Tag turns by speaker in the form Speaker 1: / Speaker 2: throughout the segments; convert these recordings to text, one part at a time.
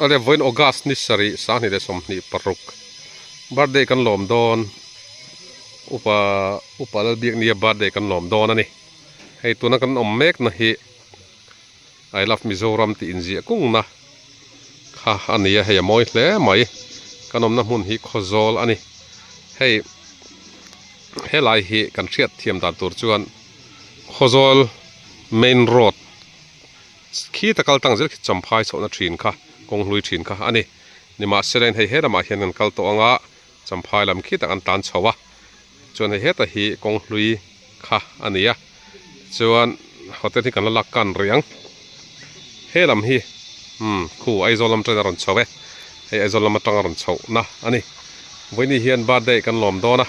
Speaker 1: Alia vawiin August ni sarih sahni leh sawmhnih paruk birthday kan lawm dawn upa upa lalbiak nia birthday kan lawm dawn a ni hei tuna kan awm mek na hi I love Mizoram tih inziah kung na kha a nia hei a mawi hle mai kan awmna hmun hi Khawzawl a ni hei helai hi kan hriat thiam dan tur chuan Khawzawl main road Khi ta kal tang zel khi cham phai chhohna thin kha, kawng hlui thin kha a ni. Nimahselain hei he lamah hian kan kal tawh anga cham phai lam khi tak an tan chho a, chuan hei heta hi kawng hlui kha a ni a. Chuan hotel hi kan la lak kan rih ang. He lam hi umm khu Aizawl lam ṭain a rawn chho e, hei Aizawl lam aṭang a rawn chhohna a ni. Vawinih hian birthday kan lawm dawn a,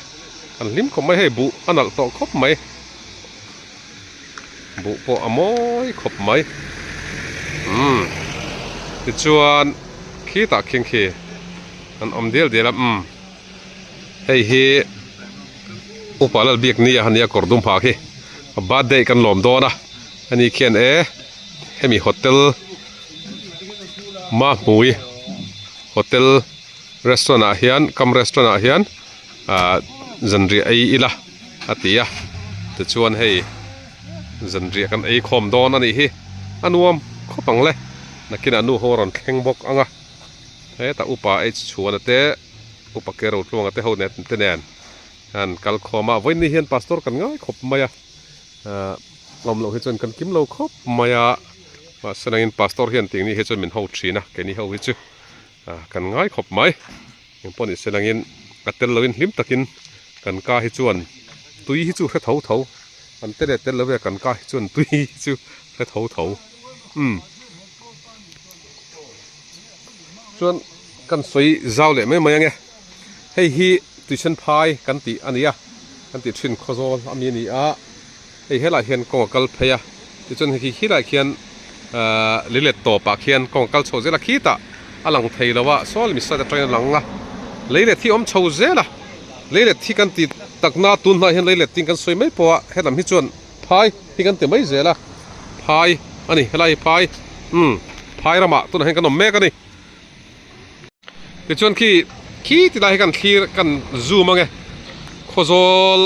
Speaker 1: kan hlim khawp mai hei, buh a nalh tawh khawp mai. buh pawh a mawi khawp mai umm tichuan khitah khingkhi an awm dial dial a umm hei hi upa Lalbik nia a nia kawr dum ha khi a birthday kan lawm dawn a a ni khian e hemi hotel Mahmui hotel restaurant ah hian kam restaurant ah hian ahh zan riah ai ila. a ti a, tichuan hei zanriah kan ei khawm dawn a nih hi, a nuam khawp ang le, nakinah nu ho a rawn thleng bawk ang a, hetah upa H Chhuana te, upa Kero Tluanga te ho nen te nen an kal khawm a, vawiin ni hian Pastor kan ngai khawp mai a, aah awm loh hi chuan kan kim lo khawp mai a, mahse nangin Pastor hian ting ni hi chuan min ho thin a, keini ho hi chu. Ah kan ngai khawp mai. Eng pawh nih selangin a tel loin hlim takin kan ka hi chuan tui hi chu hre tho tho. Kan te leh tel lovia kan ka hi chuan tui hi chu hre tho tho. Umm. Chuan kan sawi zau leh mai mai ange. Hei hi tuisenphai kan tih a nia. Kan tih thin khaw zawl a mi a ni a. Hei helaiah hian kawng a kal phei a, tichuan hei khi khilaiah khian ahh li let tawpah khian kawng a kal chho zel a, khi tah a lang thei lo a, saw le miset atangin a lang a, lei let hi awm chho zel a, lei let hi kan ti takna tun hnaiah hian lei let tiin kan sawi mai pawh a, helam hi chuan phai hi kan ti mai zel a, phai a ni, helai hi phai umm phai ramah tunah hian kan awm mek a ni. Tichuan khi khi ti lai hi kan thlir kan zoom ang e. Khawzawl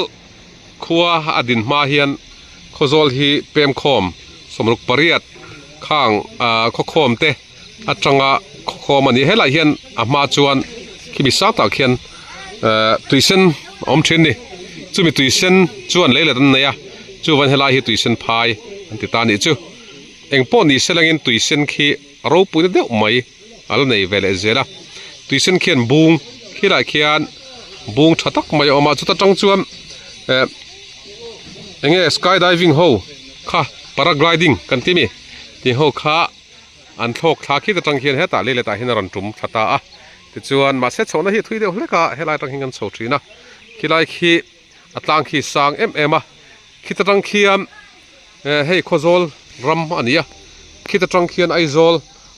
Speaker 1: khua a din hma hian Khawzawl hi Pemkhawm, Sawmruk pariat, Khang aah Khawkhawm te atanga Khawkhawm a ni. Helai hian a hma chuan khi mi sang tak hian aah Tuisen a awm thin ni. Chumi Tuisen chuan leilet an nei a, chuvan helai hi Tuisen phai an ti ta nih chu. Engpawh ni se langin Tuisen khi. a ropuina deuh mai a la nei ve leh zel a, tuisan khian bung khilai khian bung tha tak mai a awm a, chuta tang chuan eh enge sky diving ho kha para gliding kan ti mi tih ho kha an thlawk thla khit atang khian hetah leilet ah hian a rawn tum tha ta a, tichuan mahse chhohna hi a thui deuh hlek a, helai atang hian kan chho thin a, khilai khi. a tlang khi sang em em a khita tang khian eh hei khawzawl ram a ni a khita tang khian Aizawl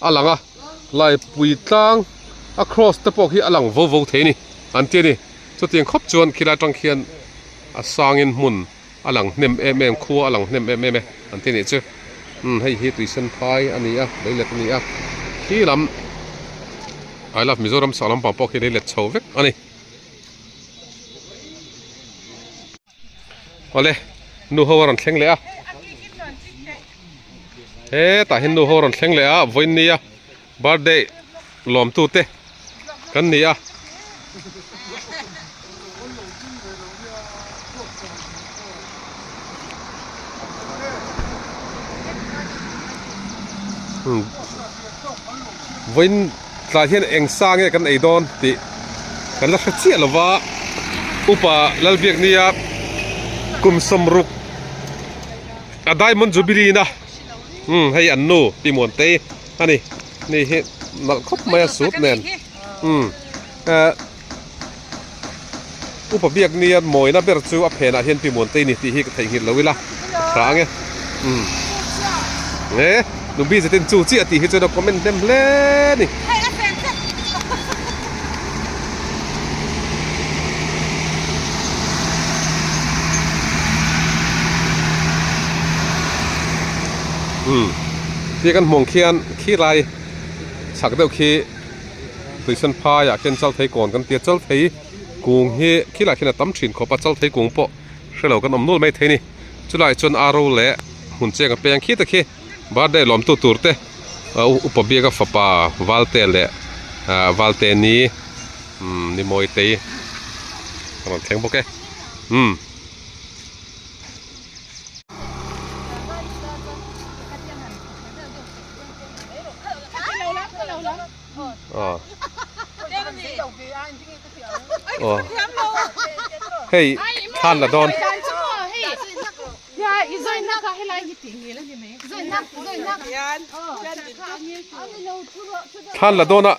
Speaker 1: a lang a laipui tlang a kraws te pawh hi a lang vo vo thei a ni an ti a ni chutiang khawp chuan khilai tang khian a sangin hmun a lang hnem em em khua a lang hnem em em e an ti nih chu umm hei hi tuisan phai a ni a lei let a ni a khi lam I love Mizoram sak lampang pawh khi lei let chho vek a ni. awle nu ho a rawn thleng leh a hetah hian nu ho a rawn thleng leh a a vawiin nia birthday lawm tu te kan ni a. Tlai hian eng sa nge kan ei dawn tih kan la hre chiah lo va, Upa Lalbiaknia kum sawm ruk a Diamond Jubilee ina umm hei an nu Pimuante a ni, ni hi nalh khawp mai a sut nen umm eh. Upa biakni an mawina ber chu a phenah hian pimuan te i ni tih hi ka theihnghilh lo ila, hra ang e. Umm. Nge, nu Bizet in chu chiah tih hi chuan a comment hnem hle a ni. Hei a phen tep. Umm. Khi kan hmawng khian khi rai chak deuh khi Tuisan phai ah khian chalthei kawn kan tia chalthei kung hi khil ah khian a tam thin khawp a chalthei kung pawh hrelo kan awm nual mai thei ni chulai ah chuan aro leh hun cheng a peng khit a khi birthday a lawmtu tur te upa biaka fapa valte leh ah valte ni umm ni mawi tei a rawn thleng bawk e umm. Aw. Aw. Hei, than la dawn. Than la dawn a.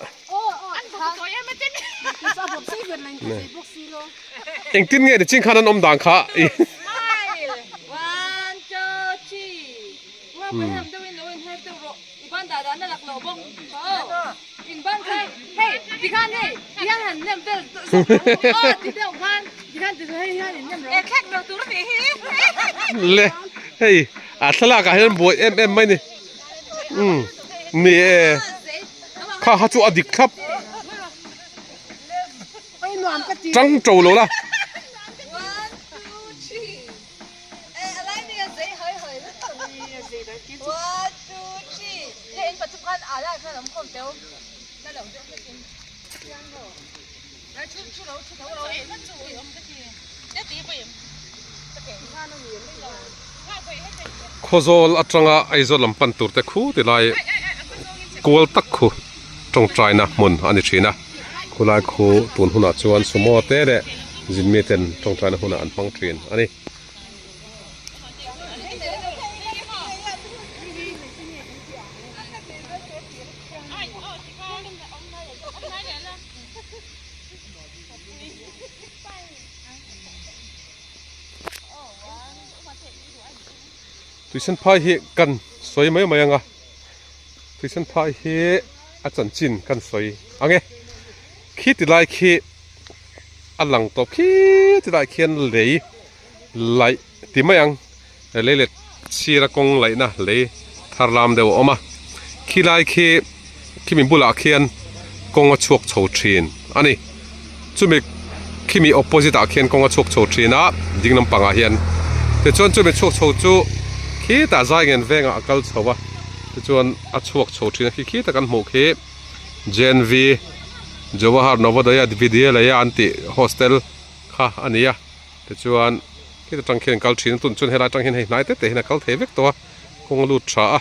Speaker 1: Eng tin nge ni ching khan an awm dan kha. Smile. One, two, three. Le hei a thlalak ah hian buai em em mai ni umm ni e kha kha chu a dik thlap tang to lo la. Khawzawl atanga Aizawl lam pan tur te khu ti lai kual tak khu. tawngtaina hmun a ni thin a, khulai khu tun hunah chuan sumo te leh zin mi ten tawngtaina hmunah an hmang thin a ni. Tuisan phai hi kan sawi mai mai ang a. Christian phai hi a chanchin kan sawi ang e. Khi ti lai khi a lang tawp khi ti lai khian lei laih ti mai ang. Lei leh sira kawng laihna lei thar lam deuh a awm a. Khi lai khi khi min bulah khian kawng a chhuak chho thin a ni. chumi khimi opposite ah khian kawnga chhuak chho thin a ding lam pangah hian tichuan chumi chhuak chho chu khitah zai ngen veng ah a kal chho a tichuan a chhuak chho thin a khi khita kan hmuh khi JNV Jawahar Navodaya Vidyalaya an tih hostel kha a ni a tichuan khita tang khian kal thin a tunah chuan helai tang hian hei hnai te te hian a kal thei vek tawh a kawng a lut tha a.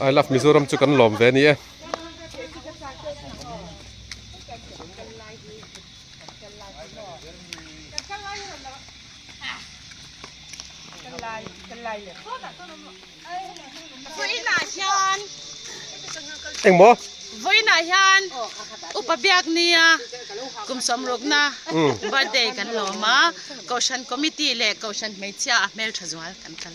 Speaker 1: I love Mizoram chu kan lawm ve a ni e. Eng mo? Voina hian upa biak nia kum som rukna birthday kan lawm a. Kohhran committee leh kohhran hmeichhia a hmel tha zual kan kal.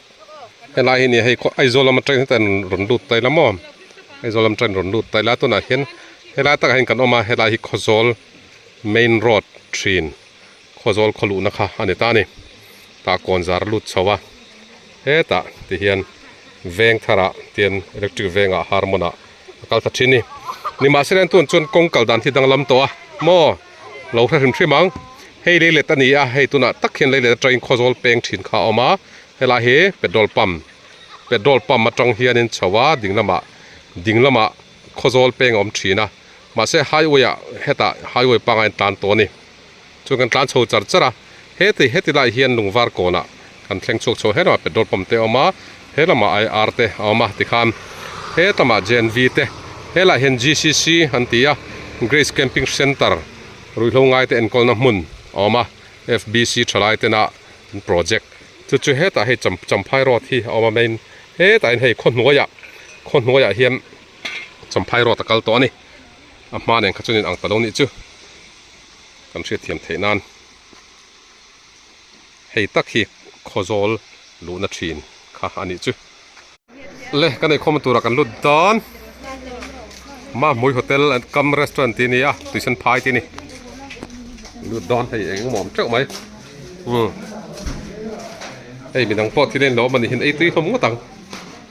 Speaker 1: Helai hi nia hei khaw Aizawl lama train heta in rawn lut ta ila maw Aizawl lam train rawn lut ta ila tunah hian helai takah hian kan awm a helai hi Khawzawl main road thin Khawzawl khaw luhna kha a ni ta a ni tah kawn zar a lut chho a hetah tihian veng tharah tihian electric veng a har hmunah-- a kal ta thin ni ni mah se an tun chuan kawng kal dan hi danglam tawh a maw lo hre hrim hrim ang hei lei let a ni a hei tunah tak hian lei let atang in khaw zawl peng thin kha a awm a helai hi petrol pump petrol pump atang hian in chho a ding lamah ding lamah khaw zawl peng a awm thin a mahse highway ah hetah highway pangai an tlan tawh a ni. Chuan kan tlan chho char char a, heti heti lai hian Lungvar kawnah kan thleng chhuak chho hlauh a, petrol pump te a awm a, he lamah IR te a awm a tikhan hetlamah GNV te, helaiah hian GCC an ti a, Grace Camping Centre, ruihhlo ngaite enkawlna hmun a awm a, FBC thalai tena an project chu chu hetah hei Champhai Road hi a awm a main hetah hian hei khaw hnuaiah khaw hnuaiah hian Champhai Road a kal tawh a ni, a hma nen kha chuan in ang ta lo nih chu. kan hriatthiam theih nan hei tak hi khaw zawl luhna thin kha a nih chu. Le ka neikhawm a tura kan lut dan Mahmui hotel kam restaurant tih a ni a tuisan phai tih a ni lut dan hei eng emaw awm teuh mai hei midang pawh thil a inlo awm a nih hian ei tui hlawm ngawt ang.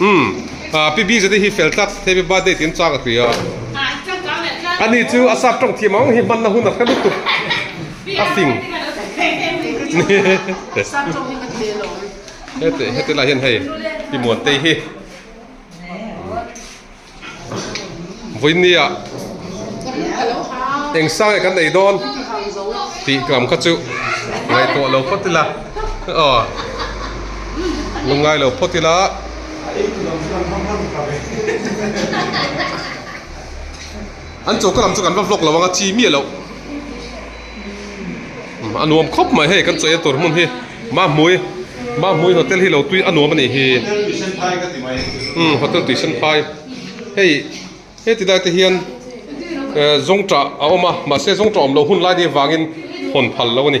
Speaker 1: Umm ah pi biza te hi fel tak happy birthday tiin chang a tui a ani chu a sap tawng thiam ang hi hmanna hun a hre lutuk a fing hete hete lah hian hei pi muante hi. Vawinia eng sange kan nei dawn tih lam kha chu ngaihtuah lo phawt ila aw lungngai lo phawt ila an choka lam chu kan va vlog lo anga chi miah loh. a nuam khawp mai hei kan cheina tur hmun hi mahmui mahmui hotel hi lo tui a nuam a nih hi umm hotel tuisan phai hei heti lai te hian eh zawngṭah a awm a mahse zawngṭah awm loh hun lai deuh vangin hawn phal lo a ni.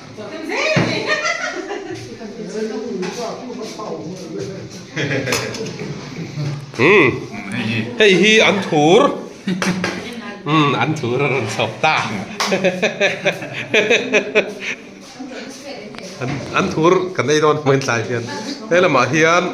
Speaker 1: Umm hei hi an thur umm an thur a rawn chhawp ta an an thur kan ei dawn hmel tlai hian he lamah hian--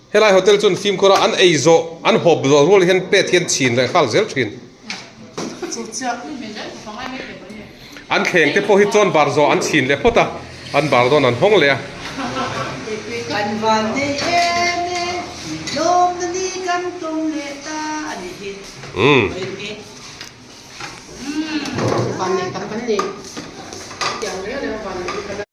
Speaker 1: Helai hotel chuan fimkhawra an ei zawh, an hawp zawh rual hian plate hian chhin leh nghal zel thin. An thleng te pawh hi chawn bar zawh an chhin leh phawt a, an bar dawn an hawng leh a.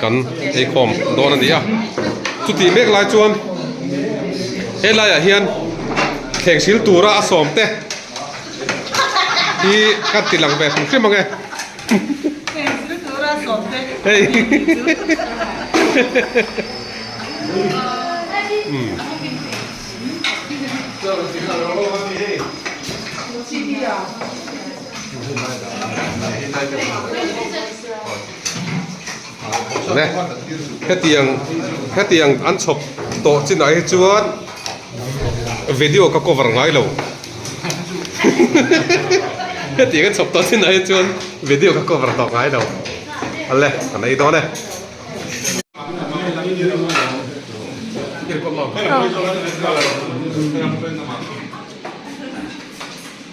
Speaker 1: Kan eikhawm dawn a ni a. Chutih mek lai chuan he laiah hian thleng sil tura a sawm te hi kan ti lang ve hrim hrim ang e. Thleng sil tura a sawm te hei hi chu. hetiang hetiang an chhawp tawh chin ah hi chuan video ka cover ngai lo hetiang an chhawp tawh chin ah hi chuan video ka cover tawh ngai lo ale kan ei dawn e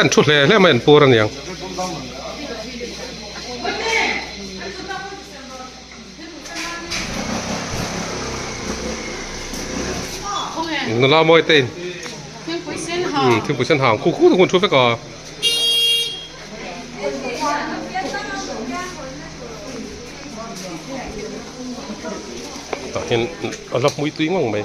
Speaker 1: an thu hle hle mai an pur aniang. Nula mawi te in thingpui sen hang thingpui sen hang khu khu te hun thu vek a. Tah hian a la hmui tui ngawng mai.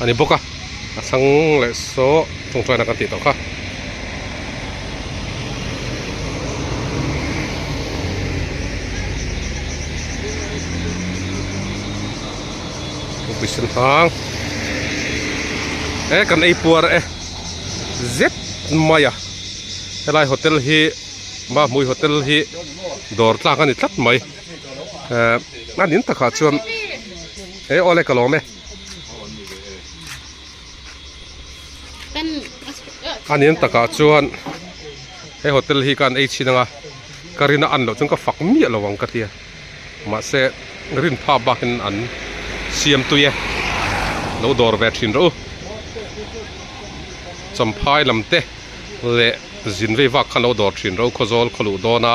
Speaker 1: a ni bawk a a chhang leh sawh chung chuan a kan tih tawh kha. e kan ei puar e zet mai a helai hotel hi Mamawii hotel hi dawr tlak a ni tlat mai ehh a ning takah chuan-- He awle ka lawm e. Anian takah chuan he hotel hi ka an ei chhin anga ka rin a an loh chuan ka fak miah lo ang ka tia mahse rin phap bakin an siam tui e lo dawr ve thin rawh u champhai lam te leh zin vei vak khan lo dawr thin rawh u khaw zawl khaw luh dawn a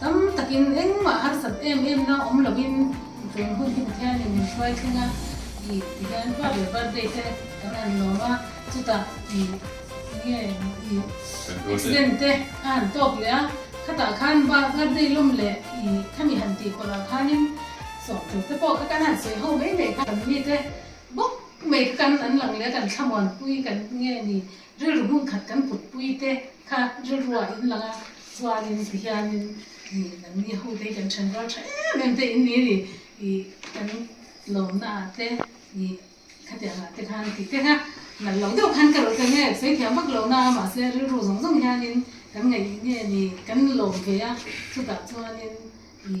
Speaker 1: Tam takin engmah harsat em emna awm lovin tuan hun hi Pathianin min hruai thleng a, ih tihian pa leh birthday te kan han lawm a, chutah ih enge ih accident te a han tawk leh a, khatah khan birthday lawm leh ih khami han tih pawrhah khanin sawh tur te pawh ka kan han sawi ho mai mai kha kan mite bawk mai kha kan an lang leh a kan thlamuan pui kan nge ni. Rilru hmun khat kan kutpui te kha rilrua in langa chuanin ti hianin nih lam ni ho te kan then rual tha em em te in ni ri i kan lawmna ah te i khatiang ah te khan tih te kha nalh lo deuh khan ka rawh teh nge sawi thiam vak lohna a mahse rilru zawng zawng hianin kan ngaih nge ni kan lawm ve a chutah chuanin i.